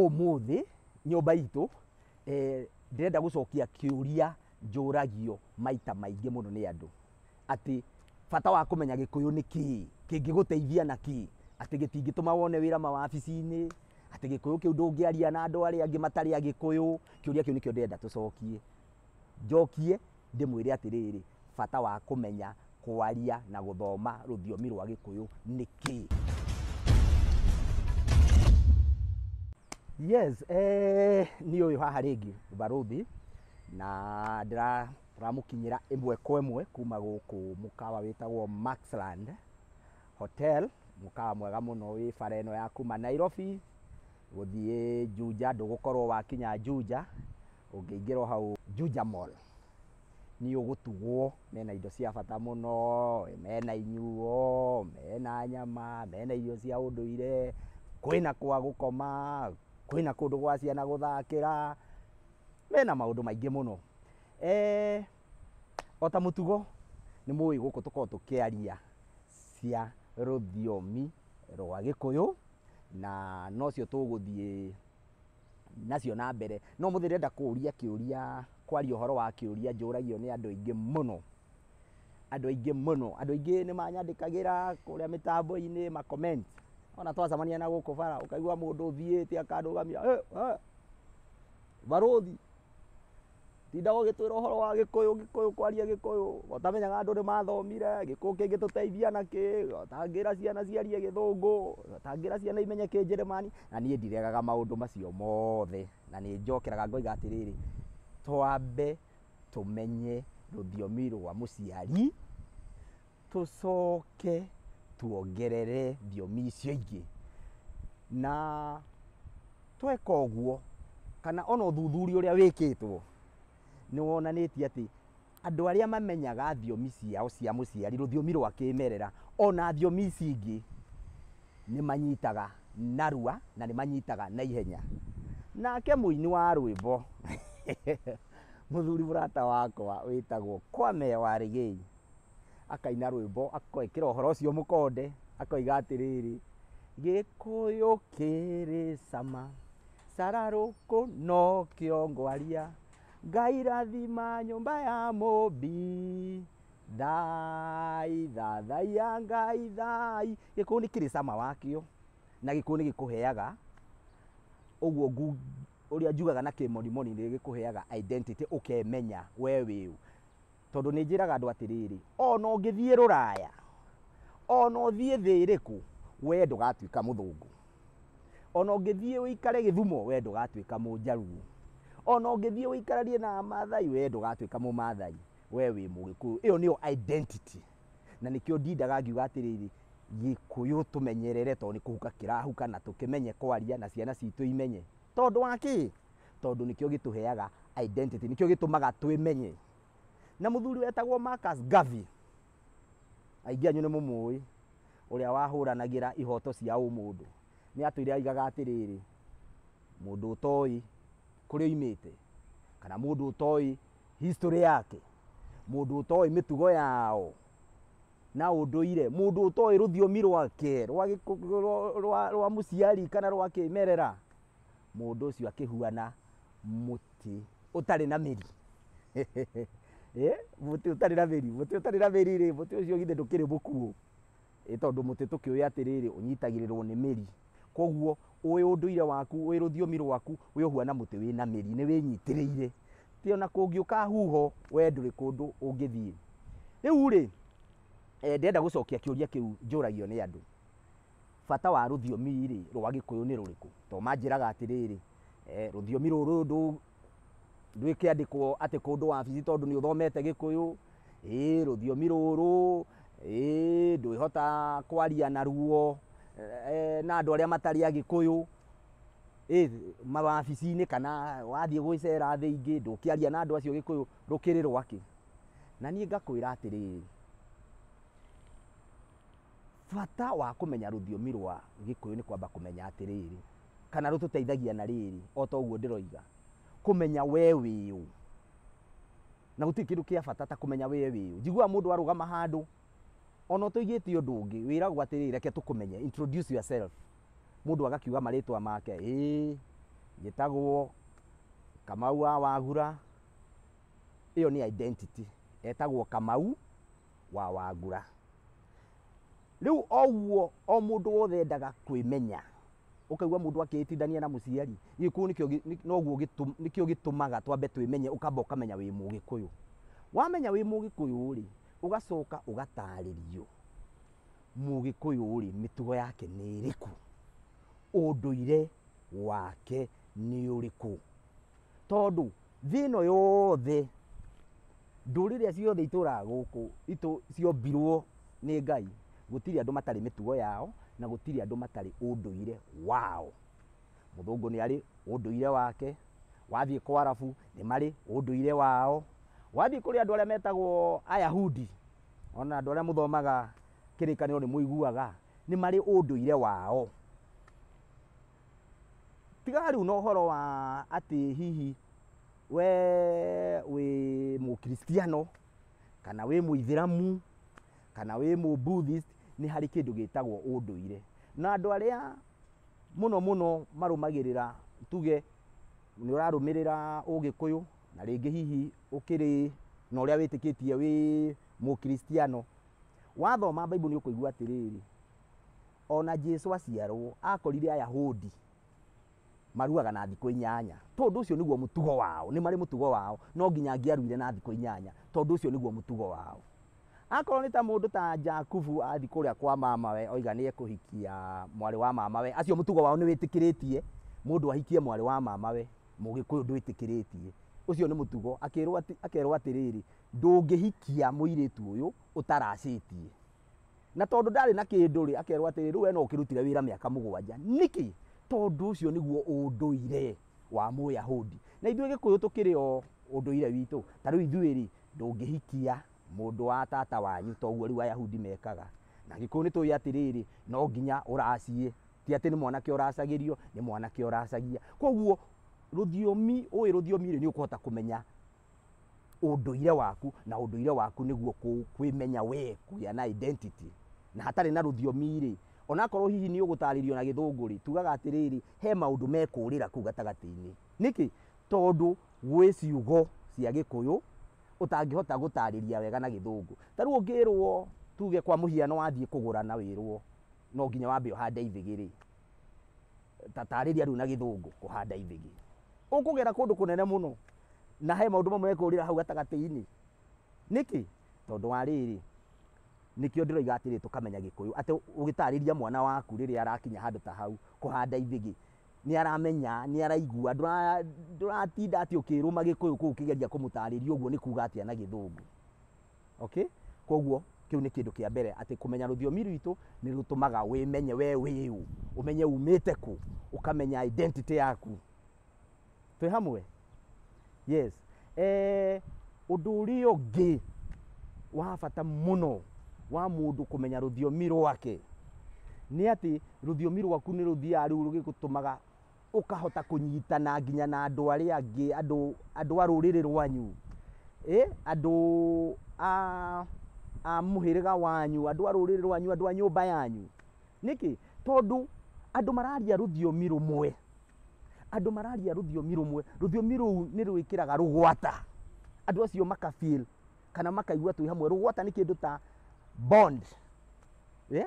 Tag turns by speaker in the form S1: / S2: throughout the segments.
S1: Ũmũthĩ nyũmba itũ eh, ndĩrenda gũcokia kĩũria njũragio maita maingĩ mũno nĩ andũ atĩ bata wa kũmenya gĩkũyũ nĩ kĩĩ kĩngĩgũteithia na kĩĩ atĩ gĩtingĩtũma wone wĩra mawabici-inĩ atĩ gĩkũyũ kĩu ndũngĩaria na andũ arĩa angĩ matarĩ agĩkũyũ kĩũria kĩu nĩkĩo ndĩrenda tũcokie Njokie ndĩmwĩre atĩrĩrĩ, bata wa kũmenya kwaria na gũthoma rũthiomi rwa Gĩkũyũ nĩ kĩĩ? Yes, eh, nĩ ũyũ haha rĩngĩ barũthi na ndĩra- ndĩramũkinyĩra ĩmwe kwa ĩmwe kuma gũkũ mũkawa wĩtagwo Maxland Hotel, mũkawa mwega mũno wĩ bara ĩno ya kuma Nairobi gũthiĩ Juja, ndũgũkorwo wakinya Juja. Ũngĩingĩra o hau Juja Mall, nĩ ũgũtugwo, mena indo cia bata mũno, mena inyuo, mena nyama, mena irio cia ũndũire, kwĩna kwa gũkoma, kwĩna kũndũ gwa ciana gũthakĩra, mena maũndũ maingĩ mũno. Eeh o ta mũtugo nĩ mũĩ gũkũ tũkoragwo tũkĩaria cia rũthiomi rwa Gĩkũyũ, na nocio tũgũthiĩ. nacio na mbere no mũthĩ ndĩrenda kũũria kĩũria kwaria ũhoro wa kĩũria njũragio nĩ andũ aingĩ mũno andũ aingĩ mũno andũ aingĩ nĩ manyandĩkagĩra kũrĩa mĩtambo-inĩ ma comment ona twacemania na gũkũ bara ũkaigua mũndũ ũthiĩte akanũgamia "Eh, eh, barũthi Tindaga ũgĩtwĩra ũhoro wa gĩkũyũ gĩkũyũ kwaria gĩkũyũ, ũtamenyaga andũ nĩ mathomire, gĩkũyũ kĩngĩtũteithia na kĩ, ũtangĩra ciana ciarie gĩthũngũ, ũtangĩra ciana imenye kĩnjĩrĩmani, na niĩ ndiregaga maũndũ macio mothe, na nĩ njokeraga ngoiga atĩrĩrĩ, twambe tũmenye rũthiomi rwa mũciari. Tũcoke tuongerere thiomi icio ingĩ. Na tweka ũguo, kana ona ũthuthuria ũrĩa wĩkĩtwo, nĩ wonanĩtie atĩ andũ arĩa mamenyaga thiomi ciao cia mũciari, rũthiomi rwa kĩmerera, ona thiomi ici ingĩ, nĩ manyitaga narua, na nĩ manyitaga naihenya. Nake mũini wa rwĩmbo, mũthuri mũrata wakwa wĩtagwo Kwame Warigĩi. akaina rwĩmbo akwĩkĩra ũhoro ũcio mũkonde akoiga atĩrĩrĩ gĩkũyũ kĩrĩ cama cararũkũ no kĩongwaria ngai rathima nyũmba ya mũmbi thai thathaiya ngai thai gĩkũyũ nĩ kĩrĩ cama wakĩo na gĩkũyũ nĩ gĩkũheaga ũguo ngu- ũrĩa njugaga na kĩmonimoni nĩ gĩkũheaga identity ũkemenya we wĩũ Tondũ nĩ njĩraga andũ atĩrĩrĩ, o na ũngĩthiĩ rũraya, o na ũthiĩ thĩ ĩrĩkũ, we ndũgatuĩka mũthũngũ. O na ũngĩthiĩ ũikare Gĩthumo, we ndũgatuĩka mũjaruo. O na ũngĩthiĩ ũikaranie na Amaathai, we ndũgatuĩka Mũmaathai, we wĩ Mũgĩkũyũ. Ĩyo nĩyo identity. Na nĩkĩo ndindaga ngiuga atĩrĩrĩ, Gĩkũyũ tũmenyerere tondũ nĩ kũhuka kĩrahuka na tũkĩmenye kwaria na ciana citũ imenye. Tondũ wa kĩ? tondũ nĩkĩo gĩtũheaga identity nĩkĩo gĩtũmaga twĩmenye na mũthuri wetagwo Marcus Garvey aingĩ anyu nĩ mũmũĩ ũrĩa wahũranagĩra ihoto cia ũmũndũ nĩ atwĩre aigaga atĩrĩrĩ mũndũ ũtoĩ kũrĩa oimĩte kana mũndũ ũtoĩ history yake mũndũ ũtoĩ mĩtugo yao na ũndũire mũndũ ũtoĩ rũthiomi rwake rwa gĩkũ- rwa- rwa- rwa mũciari kana rwa kĩmerera mũndũ ũcio akĩhuana mũtĩ ũtarĩ na mĩri Eh, mũtĩ ũtarĩ na mĩri mũtĩ ũtarĩ na mĩri rĩ mũtĩ ũcio githĩ ndũkĩrĩ mũkuũ Ĩ, tondũ mũtĩ tũkĩũĩ atĩrĩrĩ ũnyitagĩrĩrwo nĩ mĩri koguo ũĩ ũndũire waku ũĩ rũthiomi rwaku wĩ ũhuana mũtĩ wĩ na mĩri nĩ wĩnyitĩrĩire ti ona kũngĩũka huho we ndũrĩ kũndũ ũngĩthiĩ rĩu rĩ eh, ndĩrenda gũcokia kĩũria kĩu njũragio nĩ andũ Bata wa rũthiomi-rĩ rwa gĩkũyũ nĩ rũrĩkũ? Tondũ manjĩraga atĩrĩrĩ, rũthiomi rũrũ rwĩkĩandĩkwo atĩ kũndũ wabici tondũ nĩ ũthomete gĩkũyũ, ĩĩ rũthiomi rũrũ, ĩĩ ndwĩhota kwaria na ruo na andũ arĩa matarĩ agĩkũyũ, mawabici-inĩ kana wathiĩ gũgĩcera thĩ ingĩ ndũngĩaria na andũ acio gĩkũyũ, rũkĩrĩ rwakĩ? Na niĩ ngakwĩra atĩrĩrĩ. Bata wa kũmenya rũthiomi rwa Gĩkũyũ nĩ kwamba kũmenya atĩrĩrĩ, kana rũtũteithagia na rĩrĩ, o ta ũguo ndĩroiga, kũmenya we wĩũ. Na gũtirĩ kĩndũ kĩa bata ta kũmenya we wĩũ. Njiguaga mũndũ arũgama handũ, o na ũtoigĩte ũndũ ũngĩ, wĩragwo atĩrĩrĩ, reke tũkũmenye, introduce yourself. Mũndũ agakiuga marĩtwa make, ĩĩ, njĩtagwo Kamau wa Wagura, ĩyo nĩ identity, etagwo Kamau. wa Wangura. Rĩu oguo o mũndũ wothe endaga kwĩmenya, ũkaigua mũndũ akĩĩtindania na mũciari, Gĩkũyũ nĩkĩo gĩ- nĩ- noguo gĩtũ- nĩkĩo gĩtũmaga twambe twĩmenye, ũkamba ũkamenya wĩ Mũgĩkũyũ. Wamenya wĩ Mũgĩkũyũ-rĩ, ũgacoka ũgatarĩrio Mũgĩkũyũ-rĩ mĩtugo yake nĩ ĩrĩkũ, ũndũire wake nĩ ũrĩkũ. Tondũ thĩ ĩno yothe, ndũrĩrĩ iria ciothe itũraga gũkũ itũ ciombirwo nĩ Ngai, gũtirĩ andũ matarĩ mĩtugo yao, na gũtirĩ andũ matarĩ ũndũire wao. Mũthũngũ nĩ arĩ ũndũire wake, wathiĩ kwa Arabu nĩ marĩ ũndũire wao, wathiĩ kũrĩ andũ arĩa metagwo Ayahudi, o na andũ arĩa mũthomaga kĩrĩkanĩro nĩ mũiguaga, nĩ marĩ ũndũire wao. Tiga rĩu na ũhoro wa atĩ hihi we wĩ mũkiristiano, kana wĩ mũithĩramu, kana wĩ mũbuthist, nĩ harĩ kĩndũ gĩtagwo ũndũire. Na andũ arĩa mũno mũno marũmagĩrĩra tuge nĩ ũrarũmĩrĩra ũgĩkũyũ, na rĩngĩ hihi ũkĩrĩ na ũrĩa wĩtĩkĩtie wĩ mũkiristiano, wathoma Bible nĩ ũkũigua atĩrĩrĩ. Ona Jesu aciarwo akorire Ayahudi maruaga na thikũ inyanya. Tondũ ũcio nĩguo mũtugo wao, nĩ marĩ mũtugo wao, no nginya angĩaruire na thikũ inyanya, tondũ ũcio nĩguo mũtugo wao. Akorwo nĩ ta mũndũ ta Jakubu athi kũrĩa kwa mamawe oiga nĩ ekũhikia mwarĩ wa mamawe, acio mũtugo wao nĩ wĩtĩkĩrĩtie mũndũ ahikie mwarĩ wa mamawe, mũgĩkũyũ ndwĩtĩkĩrĩtie. Ũcio nĩ mũtugo, akĩrwo akerwo atĩrĩrĩ, ndũngĩhikia mũirĩtu ũyũ ũtaracĩtie. Na tondũ ndarĩ na kĩndũ-rĩ, akerwo atĩrĩ, rĩu we no ũkĩrutire wĩra mĩaka mũgwanja. Nĩkĩ? Tondũ ũcio nĩguo ũndũire wa Mũyahudi. Na ithuĩ Gĩkũyũ tũkĩrĩ o ũndũire witũ. Ta rĩu ithuĩ-rĩ, ndũngĩhikia mũndũ wa tata wanyu ta ũguo rĩu Ayahudi mekaga. Na Gĩkũyũ nĩ tũĩ atĩrĩrĩ, no nginya ũracie. Ti atĩ nĩ mwanake ũracagĩrio, nĩ mwanake ũracagia. Kwoguo rũthiomi, ũĩ rũthiomi-rĩ, nĩ ũkũhota kũmenya ũndũire waku na ũndũire waku nĩguo kũ- kwĩmenya we kũgĩa na identity na hatarĩ na rũthiomi rĩ onakorwo hihi nĩ ũgũtarĩrio na gĩthũngũ rĩ tugaga atĩrĩrĩ he maũndũ mekũrĩra kũu gatagatĩ-inĩ nĩkĩ tondũ gwĩ ciugo cia gĩkũyũ ũtangĩhota gũtarĩria wega na gĩthũngũ ta rĩu ũngĩrwo tuge kwa mũhiano wathiĩ kũgũrana wĩrwo no nginya wambe ũhande ithĩgĩ rĩ ta tarĩria rĩu na gĩthũngũ kũhanda ithĩgĩ ũkũgera kũndũ kũnene mũno na he maũndũ mamwe ekũrĩra hau gatagatĩ-inĩ nĩkĩ tondũ wa rĩrĩ nĩkĩo ndĩroiga atĩrĩ tũkamenya gĩkũyũ atĩ ũgĩtarĩria mwana waku rĩrĩa arakinya handũ ta hau kũhanda ithĩgĩ nĩ aramenya nĩ araigua ndũratinda atĩ ũkĩrũma gĩkũyũ kũu kĩgeria kũmũtarĩria ũguo nĩ kuga atĩa na gĩthũngũ Okay? Koguo kĩu nĩ kĩndũ kĩa mbere atĩ kũmenya rũthiomi rwitũ nĩ rũtũmaga wĩmenye we wĩ ũ, ũmenye umĩte kũ, ũkamenya identity yaku. Twĩ hamwe? Yes. Eh, ũndũ ũrĩa ũngĩ wa bata mũno wa mũndũ kũmenya rũthiomi rwake nĩ atĩ rũthiomi rwaku nĩ rũthiaga rĩu rũgĩgũtũmaga ũkahota kũnyitana nginya na andũ arĩa angĩ andũ andũ a rũrĩrĩ rwanyu eh, andũ a a mũhĩrĩga wanyu andũ a rũrĩrĩ rwanyu andũ a nyũmba yanyu nĩkĩ tondũ andũ mararia rũthiomi rũmwe andũ mararia rũthiomi rũmwe rũthiomi rũu nĩ rwĩkĩraga rũgwata andũ acio makafeel kana makaigua twĩ hamwe rũgwata nĩ kĩndũ ta bond eh?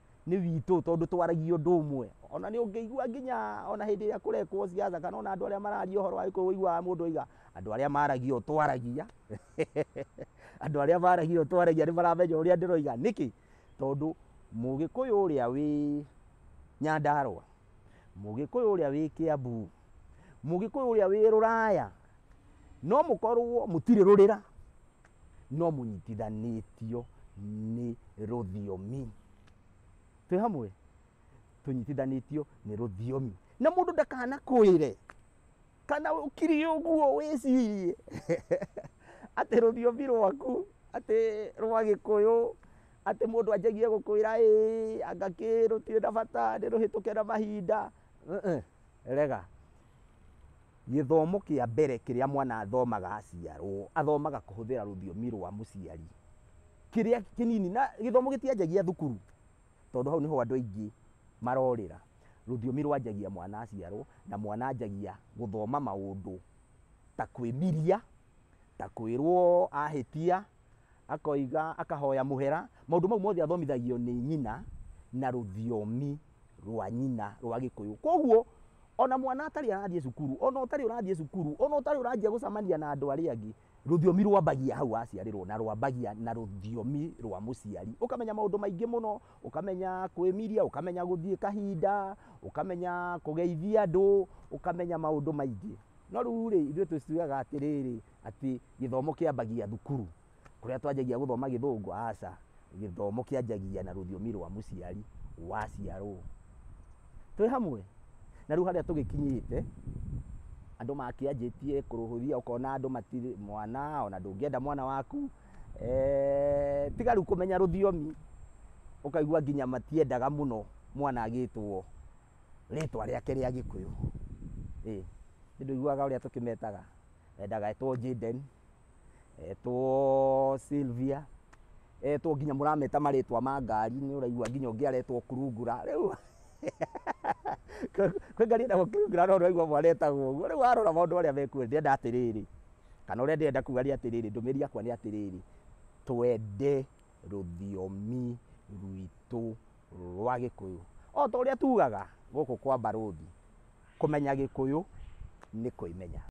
S1: nĩ witũ tondũ twaragia ũndũ ũmwe ona nĩ ũngĩigua nginya ona hĩndĩ ĩrĩa kũrekwo ciaca kana ona andũ arĩa mararia ũhoro wa gĩkũyũ ũiguaga mũndũ oiga andũ arĩa maragia ũũ twaragia andũ arĩa maragia ũũ twaragia nĩ maramenya ũrĩa ndĩroiga nĩkĩ tondũ mũgĩkũyũ ũrĩa wĩ nyandarũa mũgĩkũyũ ũrĩa wĩ kĩambu mũgĩkũyũ ũrĩa wĩ rũraya no mũkorwo mũtirĩ rũrĩra no mũnyitithanĩtio nĩ rũthiomi twĩ hamwe tũnyitithanĩtio nĩ rũthiomi na mũndũ ndakanakwĩre kana ũkiri ũguo wĩcirie atĩ rũthiomi rwaku atĩ rwa gĩkũyũ atĩ mũndũ anjagia gũkwĩra ĩ anga kĩ rũtirĩ na bata nĩ rũhĩtũke na mahinda rega Gĩthomo kĩa mbere kĩrĩa mwana athomaga aciarwo, athomaga kũhũthĩra rũthiomi rwa mũciari, kĩrĩa kĩnini, na gĩthomo gĩtianjagia thukuru, tondũ hau nĩho andũ aingĩ marorĩra. Rũthiomi rwanjagia mwana aciarwo, na mwana anjagia gũthoma maũndũ ta kwĩmiria, ta kwĩrwo ahĩtia. akoiga akahoya mũhera maũndũ mau mothe athomithagio nĩ nyina na rũthiomi rwa nyina rwa gĩkũyũ koguo ona mwana atarĩ arathiĩ cukuru ona ũtarĩ ũrathiĩ cukuru ona ũtarĩ ũranjia gũcamania na andũ arĩa angĩ rũthiomi rwambagia hau aciarĩrwo na rwambagia na rũthiomi rwa mũciari ũkamenya maũndũ maingĩ mũno ũkamenya kwĩmiria ũkamenya gũthiĩ kahinda ũkamenya kũgeithia andũ ũkamenya maũndũ maingĩ no rĩu rĩ ithuĩ twĩciaga atĩrĩrĩ Atĩ gĩthomo kĩambagia thukuru kũrĩa twanjagia gũthoma gĩthũngũ, aca. Gĩthomo kĩanjagia na rũthiomi rwa mũciari waciarwo. Twĩ hamwe? Na rĩu harĩa tũgĩkinyĩte, andũ makĩanjĩtie kũrũhũthia ũkona andũ matirĩ, mwana ona ndũngĩenda mwana waku, tiga rĩu kũmenya rũthiomi, ũkaigua nginya matiendaga mũno mwana agĩtwo rĩtwa rĩake rĩa gĩkũyũ. Ĩĩ. Nĩ ndũiguaga ũrĩa tũkĩmetaga? endaga etwo Jaden, etwo Sylvia, etwo nginya mũrameta marĩtwa ma ngari nĩ ũraigua nginya ũngĩ aretwo kurungura rĩu kwĩ ngari ĩtagwo kurungura no ũraigua mwana etagwo ũguo rĩu warora maũndũ marĩa mekuo ndĩrenda atĩrĩrĩ kana ũrĩa ndĩrenda kuga nĩ atĩrĩrĩ ndũmĩrĩri yakwa nĩ atĩrĩrĩ twende rũthiomi rwitũ rwa gĩkũyũ o ta ũrĩa tugaga gũkũ kwa mbarũthi kũmenya gĩkũyũ nĩ kwĩmenya.